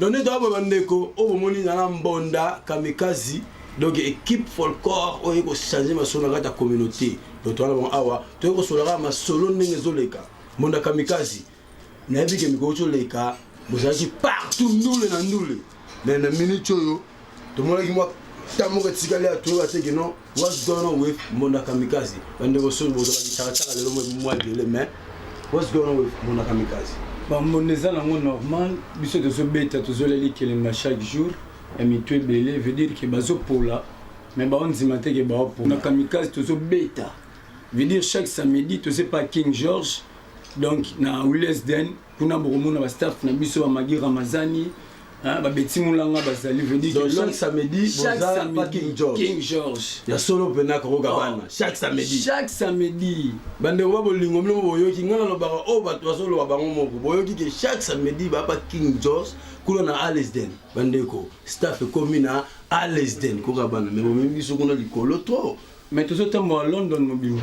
Donc nde toyaba bandeko oyo bomoni na na mbonda kamikazi donc équipe folklore oyo ekochange masolo na kati ya communauté donc towana bango awa toyei kosolola kaka masolo ndenge ezoleka mbonda kamikazi nayebi ke mikolo coleka bozalaki partout ndule na ndule mais na minute oyo tomonaki mwa ta moko etikali ya toyoka te kino what's going on with mbonda kamikaze bandeko soki bozala bitakataka lelo mwa ebele mais what's going on with mbonda kamikaze bambonda eza nango normal biso tozobeta tozoleli kelemba chaque jour ya mitu ebele veut dire ke bazopola mais baondima te ke baopola na kamikaze tozobeta veut dire chaque samedi tozepa king george donc na wilesden kuna bokomona ba staff na biso ba magi ramazani hein, ba beti mulanga bazali veut dire Donc, que chaque l'homme- samedi, chaque boza samedi, pa King George. King George ya solo mpena kokoka bana chaque samedi chaque samedi bandeko ba bolingo bino boyoki ngai nalobaka oyo bato bazoloba bango moko boyoki ke chaque samedi bapa king jos kuna na alesden bandeko staff ekomi na alesden koka bana me bomebi biso kuna likolo trop mais tozotambola london mobimba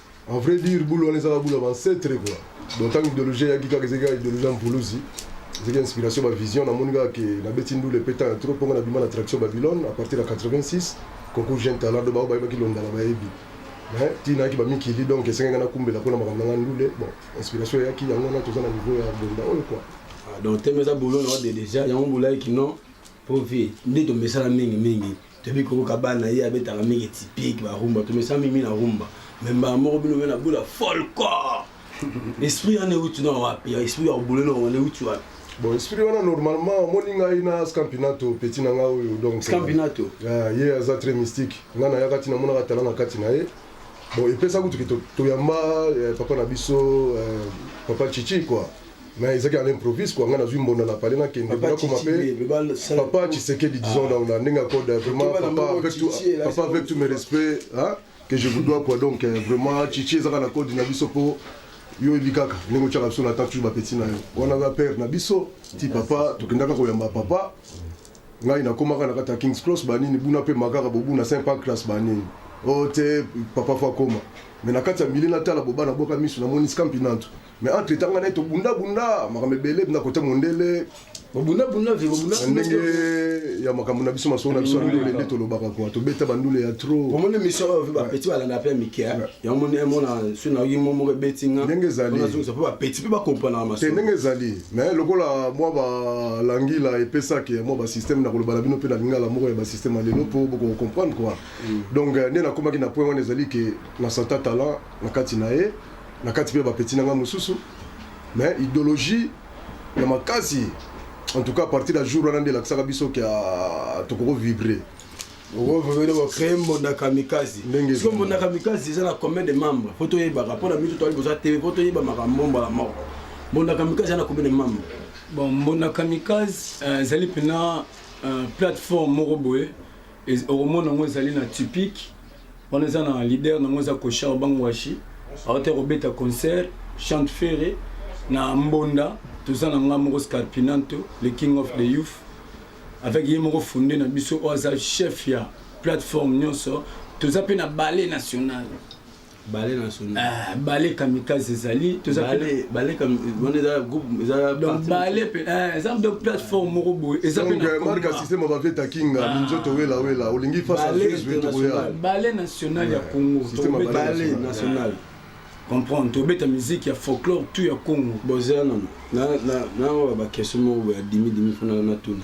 En vrai dire, boulot wana ezaka boulot bancetre quoi. Donc ntango idéologie eyaki kaka ezali kaka idéologie ya mpuluzi ezali inspiration bavision namoni kaka ke nabeti ndule mpe ntango ya trop mpongo nabima na traction babylone à partir ya 86 concours jeune talent do bao bayebaki londala bayebi mais ti nayaki bamikili donc esengaki nga nakumbela mpo na makambo na nga ndule bon inspiration eyaki yango wana toza na niveau ya bonda oyo quoi Ah, donc teme eza boulot na ode deja yango bolaki kino mpo vie nde tomesala mingi mingi toyebi koko kabana na ye abetaka mingi typique ba rumba tomesa mimi na rumba me mbala moko bino be na bula folcor esprit wana euti na wapi esprit ya obule na wana euti wapi bon esprit wana normalement omoni ngai na scampinato petit na ngai oyo donc scampinato ah, ye aza très mystique ngai nayaka ti namonaka tala na kati na ye bon epesa kutu ke toyamba eh, papa na biso eh, papa chichi quoi mais ezaki à l'improviste quoi nga nazui mbonda na palais na kende papa koma pe papa Tshisekedi disons ah. donc na ndenge code vraiment papa avec tout papa avec tout mes respects hein que je vous dois quoi donc euh, vraiment Chichi ezaka na code na biso po yo oyebi kaka ndenge otyaka biso na temps toujours bapeti na yo wana ba père na biso ti papa tokendaka koyamba papa ngai nakomaka na kati ya kings cross banini buna mpe makaka bobuna saint pancras banini o oh, te papa fo akoma me na kati ya mili natala bobana boka miso namoni skampi nantu mais entre temps ngana to bunda bunda makambo ebele bina kote mondele bunda bunda vivo bunda ndenge ya makambo na biso masolo na biso ya ndule nde tolobaka kwa tobeta bandule ya trop omoni mission oyo pe bapeti balanda pe ya mike yango moni emona soki nayoki mo moko ebeti nga ndenge ezalionazongisa mpe bapeti mpe bakomprenaka maso te ndenge ezali mais lokola mwa balangila epesaki mwa basystème na koloba na bino mpe na lingala moko ya basystème ya lelo mpo bokokomprendre quoi donc nde nakomaki na point wana ezali ke na santa talent na kati na ye na kati mpe bapeti na ngai mosusu mais idéologie ya makasi en tout cas à partir ya jour wana nde elakisaka biso ke ah, tokoko vibre créer mbonda kamikazi siko mbonda kamikazi eza na combien de membre po toyebaka mpo na biso toali boza tv mpo toyeba makambo mbala moko mbonda kamikazi eza na combien de membre bon mbonda kamikazi euh, ezali mpena euh, plateforme moko boye okomona yango ezali na tupic wana eza na leader nango eza koshar bangwashi awata kobeta concert chante ferre na mbonda toza na ngai moko scarpinanto le king of the youth avec ye moko funde na biso oyo aza chef ya plateforme nyonso toza mpe na ballet national bale national ah, bale kamikaze ezali tozabale mpe eza mpe plateforme moko boye eza marka systeme avaveta kinga ah. minzoto wela wela olingi fasbale national ya congo bale national comprendre tobeta miziki ya folklore tout ya congo boza nano naoya bakestion moko boye ya dimi dimi mpo natuna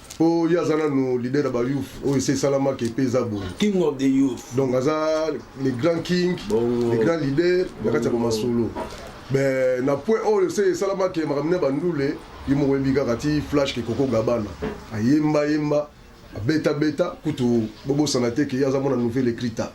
po ye aza nanu leader ya ba youth oyo esi esalama ke pe eza boye king of the youth donc aza le grand king le grand leader na kati ya bamasolo ben na point oyo se esalama ke makambo ne bandule ye moko yebi kaka ti flash ke koko gabana ayemba yemba abeta beta kutu bobosana te ke ye aza mwana nouvelle ecrita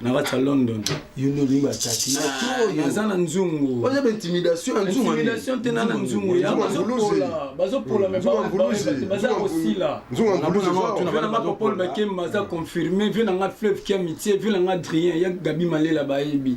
na kati ya london yo nde olingi batati naza ah, na nzungu oza baintimidation ya nzunguintimidation te na na nzungu ya bazopola baza kosila nzunguapol bakemba aza confirme vie na nga fleuve kia mitie vie na nga adrien ya gabi malela bayebi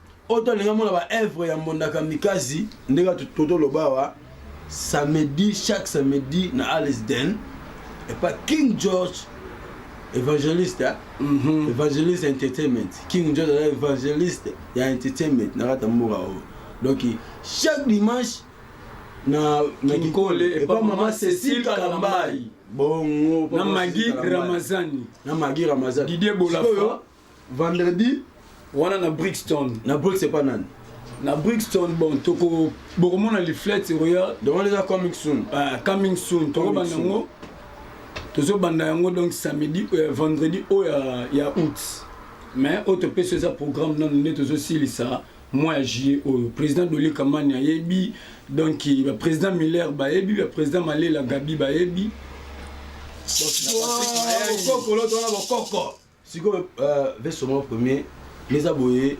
oyo tolingi amona ba œuvre ya mbonda kamikazi ndenge totoloba awa samedi chaque samedi na alisden epa king george evangeliste mm -hmm. evangeliste entertainment king george aza evangeliste ya entertainment na kati ya mboka oyo donc chaque dimanche na mikole epa mama cecile kalambai bongo na magi ramazani na magi ramazani didie bolafa vendredi wana na brixton na brix epa nani na brixton bon toko bokomona liflet royal donc wana eza coming soon uh, coming soon tokobanda yango tozobanda yango donc samedi euh, vendredi oyo ya, ya août mais oyo topesi eza programme nano nde tozosilisa mois ya juillet oyo président doli kamani ayebi donc baprésident miller bayebi baprésident malela gabi bayebi bokokoloto wana bokoko sikoyo euh, veso moko premier eza boye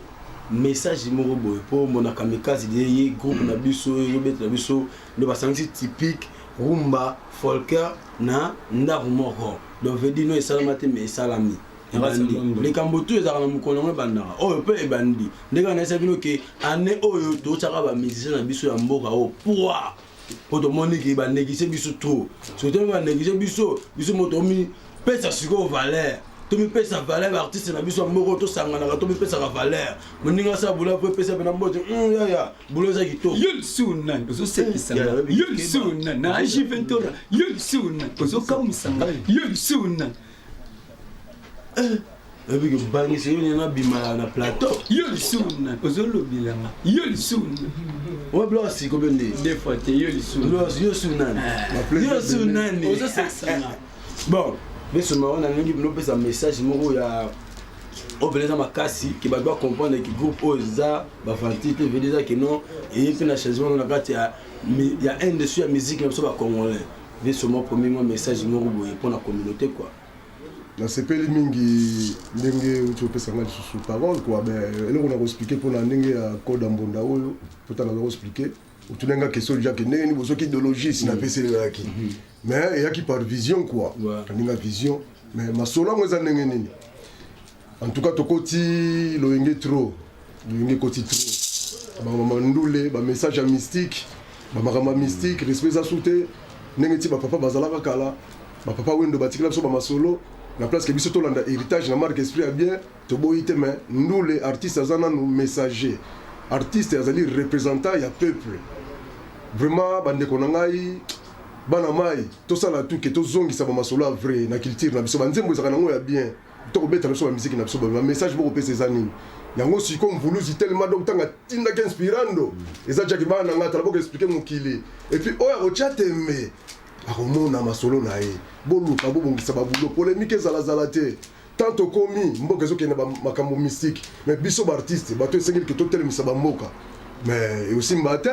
message moko boye mpo mona kamikaze de ye groupe na biso ezobeta na biso nde basangisi typique rumba folker na ndako moko donc vedi no esalama te mais esalami likambo tu ezalaka na mokolo yango ebandaka oyo mpe ebandi ndenge anayesaki no ke ane oyo totyaka bamusicien na biso ya mboka oyo pwa po tomoni ke baneglige biso trop soki tomi baneglige biso biso moto omipesa sikoyo valeur tomipesa valeur baartiste na biso moko tosanganaka tomipesaka valeur moninga asala bula po epesa pena mbote hmm, yaya bula eza kitoko ozosekisanaozokamwisanga Eh, oyebi kobangisa yo nena bimala na plateau yo lisusu na ozolobelanga yo lisusu oyo biloko siko bende defa te yo lisusu yo su nani eh. yo su nani ozosasana bon biso mawa nalingi bino opesa message moko ya oyo mpenza makasi ke bato bacomprendre ke groupe oyo eza bafanti te vede eza ke non eye mpe na changement na kati ya industrie ya musique na biso bacongolais Liso mwa komi mwa message moko boye mpo na communauté quoi. nasepeli mingi ndenge uti opesa ngai lisusu parole kua be eloko na koexplike mpona ndenge ya code ya mbonda oyo pota naza koexplike otuna nga question deja ke ndenge nini bozoki idéologie si napesi elelaki mhm. mais eyaki par vision kua aninga vision mais masolo yango eza ndenge nini En tout cas tokoti loyenge trop loyenge ekoti trop bamama ndule bamessage ya mystique bamakambo ya mystique respect eza su te ndenge ti bapapa bazalaka kala bapapa wendo batikela biso bamasolo na place ke biso tolanda héritage na marque esprit ya bien toboyi te mais ndule artiste aza nanu messager artiste azali représentant ya peuple vraiment bandeko na ngai bana mai tosala tuke tozongisa bamasolo ya vrai na culture na biso banzembo ezalaka nango ya bien Toko beta biso ba miziki na biso ba message boko pesa eza nini? Yango siko mvuluzi telema donc tanga tinda ke inspirando eza jaki bana na ngata boko expliquer mokili et puis oya ko tia tembe akomona masolo na ye boluka bobongisa ba boulot polemique ezala zala te tant tokomi mboka ezokende ba makambo mystique mais biso ba artiste bato esengeli ke totelemisa ba mboka mais eosimba te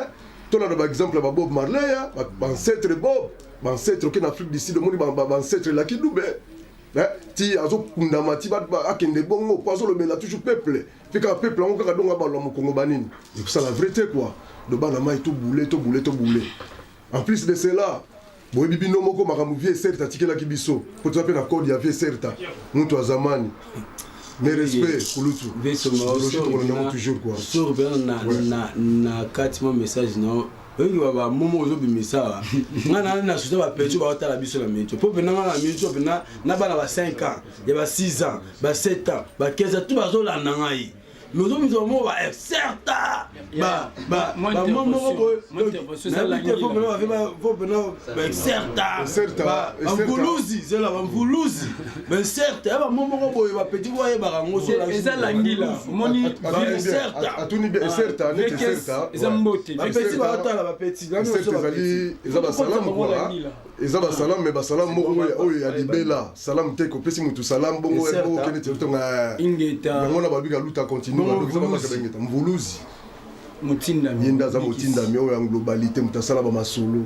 tolanda ba exemple ya ba Bob Marley ba ancêtre Bob ba ancêtre okende Afrique du Sud omoni ba ancêtre Lucky Dube Eh, ti azokundama ti akende bongo mpo azolobela toujours peuple mpe kaka peuple yango kaka dongo abalwa mokongo banini ekosala vrai te kua do bana mai tobule tobule tobule en plus de cela boyebi bino moko makambo vie certa atikelaki biso mpo toza mpe na code ya vie certa moto azamani mais respect kulutu tokolanda yango toujours kua na kati mwa message na oyebi ba momo ozo bimisa wa nga na na suta ba pecho ba tala biso na mecho po pe na nga na mecho pe na na bana ba 5 ans ya ba 6 ans ba 7 ans ba 15 ans tout ba zo landa ngai mais ozo bimisa mo ba certa ba ba ba momo ko na bite po pe na ba po pe na ba certa ba mvuluzi zela ba mvuluzi bainserte ya bango moko boye bapeti mpo ayebaka yango eza langila omoni bainserte mbote bapeti baotala bapeti eza basalamu kua eza basalamu me basalamu moko oyo ya libela salamu te kopesi motu salamu bongo okende tetonga yango na babika luta continue mvuluzi motindami ye nde aza motindami oyo ya globalite moto asala bamasolo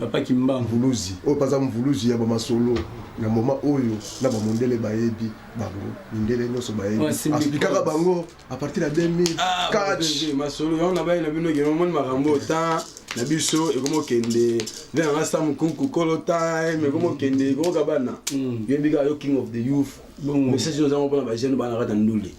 mvuluzi oyo mpe aza mvuluzi ya bamasolo na moma oyo na bamondele bayebi bango mindele nyonso bayebi asplikaka bango a partir ya 2000 ah, catch masolo yango na baye na bino ekende omoni makambo otan na biso ekomi okende nde nanga sa mokunku kolo time ekomi okende ekokoka bana mm. yoyebi kaka yo king of the youth message oyo ozango mpona bajeune bana kata ndule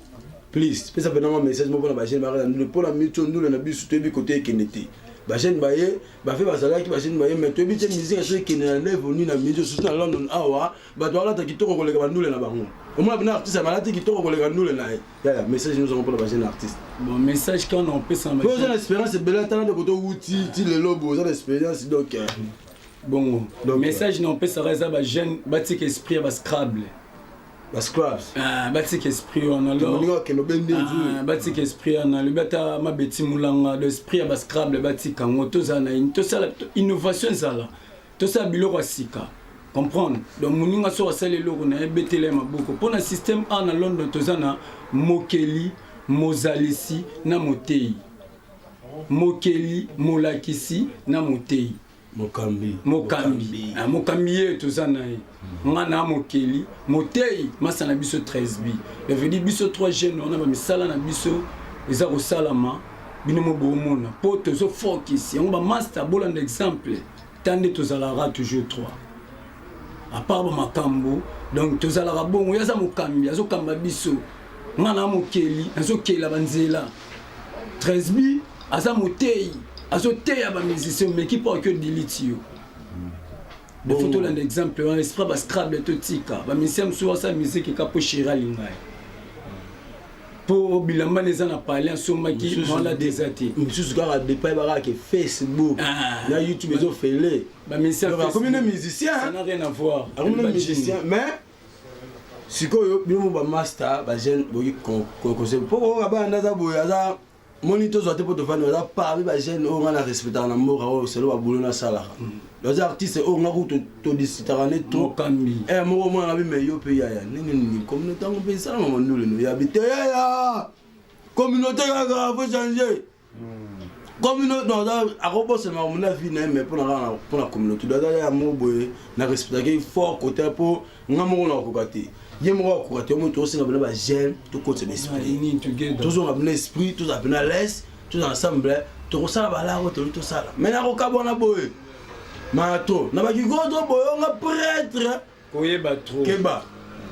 Please, pesa pena mwa message moko na ba jeune baraka ndule pona micho ndule na bisu toyebi kote ekende te. Ba jeune baye, ba fe bazalaki ba jeune baye mais toyebi te musique so ekende na level ni na micho surtout na London awa, bato alata kitoko koleka ba ndule na bango. Omona bina artiste malati kitoko koleka ndule na ye. Yaya, message nous avons pour ba jeune artiste. Bon message quand on pesa na ba. Oza na experience bela tala de koto wuti ti lelo bo oza na experience donc. Euh, bongo. Donc, message na on pesa eza ba jeune batika esprit ya ba scrabble. ba scrubs ah batika esprit wana lo olinga bakende obende ah, nzuri batika esprit wana lobi ata mabeti mulanga do esprit ya ba scrabble batika yango tozala na ini tosala innovation ezala tosala biloko ya sika comprendre donc moninga soki asali eloko na ye betela ya maboko mpo na système a na london toza na mokeli mozalisi na moteyi mokeli molakisi na moteyi mokambi mokambi ah, mokambi ye toza na ye hmm. nga na mokeli moteyi masa na biso 13 bi evedi biso 3 jeune wana bamisala na biso eza kosalama bino mo boomona mpo tozo focus yango bamasta bolanda exemple ta nde tozalaka toujours 3 apart bamakambo donc tozalaka bongo ye aza mokambi azokamba biso nga na mokeli nazokela banzela Tresby aza moteyi azoteya ba musicien omeki mpo ake odiliti yo defo tolanda exemple wana esprit ba scrable totika ba musicien mosusu basala musike eka mpo sheri alinga ye mpo bilamba na eza na pale asombaki mwana te eza te mosusu kaka depai bakake facebook ah. na youtube ezofele bakomi na musicien akomi na musicien mais sikoyo bino ba master ba jeune boyi kokose mpo kokoka bana nde aza boye aza moni tozwa te mpo tofandi aza parmi ba jeune oyo ngai na respectaka na mboka oyo selo babulo nasalaka oza artiste oyo ngai kutu todisitaka nde trop eh, moko mwana ngabi me yo mpe yaya ndenge nini communauté yango mpe esalama manduleno yabi te yaya communauté kaka faut changer communauté non aza akobosana makambo na vie na ye mais mpona kaka mpona communauté do aza ya moko boye na respectaki fort côté mpo nga moko nakokoka te ye moko akokoka te omoi tokosenga bina bagene tokotisa na esprit tozonga bina esprit tozala mpena lese tozala ensemble tokosala balako toli tosala mai nakokabwana boye mato na bakigoto boyonga pretre koyeba trop keba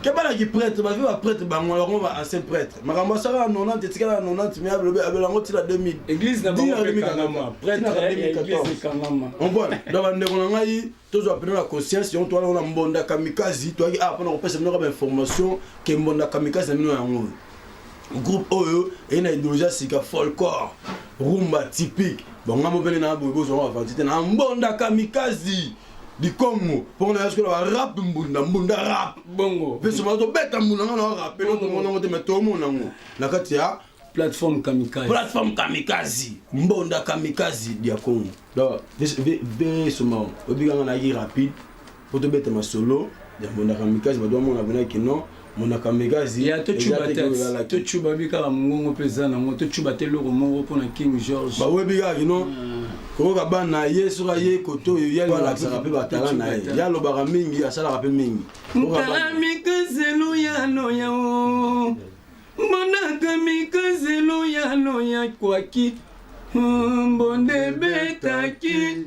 keba na kiprêtre bavi baprêtre bango yango ba ancien prêtre makambo asaka na 90 etikala na 90 mai alobi abela yango ntina 2000 église na bango mpe kangama prêtre ya église ekangama ompona donc bandeko na ngai tozwa mpena na conscience yango towana na mbonda kamikazi toyaki awa ah, mpona kopesa bino kaka bainformation ke mbonda kamikazi na bino yango oyo groupe oyo eye na idéologie ya sika folcor rumba typique bangambo mpene na boye bozwanga bavanti te na mbonda kamikazi likongo mpo na yasikola ba rap mbunda mbunda rap bongo mpe soba tobeta mbunda nga na rap eloko tomona yango te me tomona yango na kati ya plateforme kamikaze plateforme kamikaze mbonda kamikaze dia kongo donc be soma obikanga na ye rapide mpo tobeta masolo ya mbonda kamikaze bato bamona pena ke non monaka megazi ya tocuba te tocuba bi kaka mongongo mpe eza nango tocuba te eloko moko mpo na king george bawebi kaka kino hmm. koyoka bana na ye soki aye kote oyo ye alakisaka mpe batala na ye ye alobaka mingi asalaka mpe mingi mpala mikazelo ya loya o monaka mikazelo ya loya kwaki mbonde betaki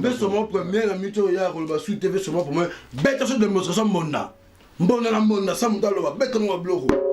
Ve soma premier na mito oyo ya koloba su te ve soma premier beta so demonstration mbonda mbonda na mbonda sa moto aloba beta ngo babiloko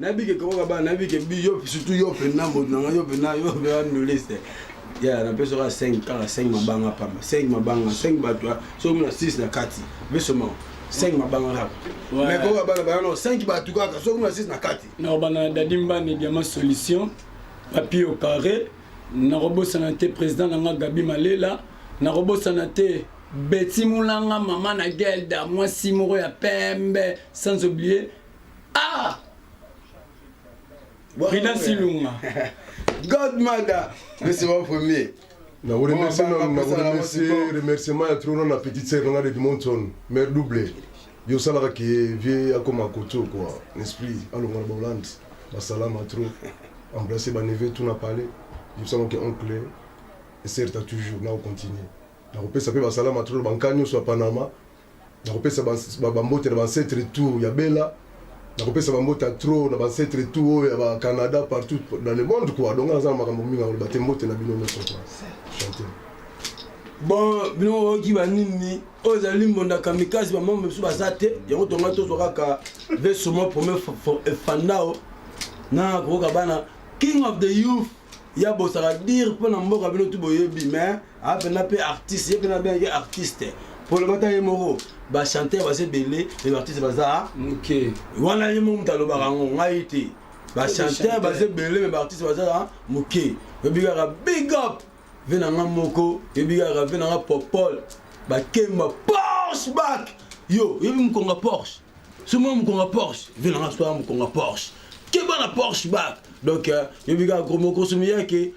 nayebi ke kokoka bana nayebi ke bi yo surtout yo mpena moto na ngai yo mpena yo mpena noliste ya napesa kaka 5 kaka 5 mabanga pamba 5 mabanga 5 bato soki na 6 na kati besomao 5 mabanga kaka mais kokoka bana bana no 5 bato kaka soki na 6 na kati nakobana na dadi mbani diama solution papier au carré nakobosana te président na nga gabi malela nakobosana te beti mulanga mama na gelda mwasi moko ya pembe sans oublier Ah! Rina Silunga. Godmother, mais c'est mon premier. Na vous remercie, na vous remercie, remerciement ya trop na petite sœur na Edmonton, mère double. Yo salaka ke vieux akoma koto quoi, l'esprit alonga na Hollande, basalama trop. Embrasser ba neveu tout na palais. Yo salaka ke oncle et sœur ta toujours na continuer. Na kopesa pe basalama trop bankani nyonso ya Panama. nakopesa bambote na bancetre tout ya bela nakopesa bambote ya tro na bancetre tout oyo ya bacanada partout dans le monde kua donga naza na makambo mingi akoloba te mbote na bino nyonso kua chante bon bino oyoki banini oyo ezali mbonda kamikazi bamama mosusu baza te yango tonga tozwa kaka vesoma premier efandao na kokoka bana king of the youth ya bosaka dire mpo na mboka bino tu boyebi mais apena mpe artiste ye mpena abengaki artiste polomata ye moko bachanteur baza ebele me baartiste baza moke wana ye moko moto alobaka yango ngai te bachanteur baza ebele me baartiste baza moke oyebi kaka big up ve na nga moko oyebi kaka ve na nga popol bakemba porsche bak yo oyebi mokonga porsche somo mokonga porsche ve na nga soa mokonga porsche keba na porsche bak donc euh, yobi kaka gros moko somi yake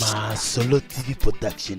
Masolo TV Production.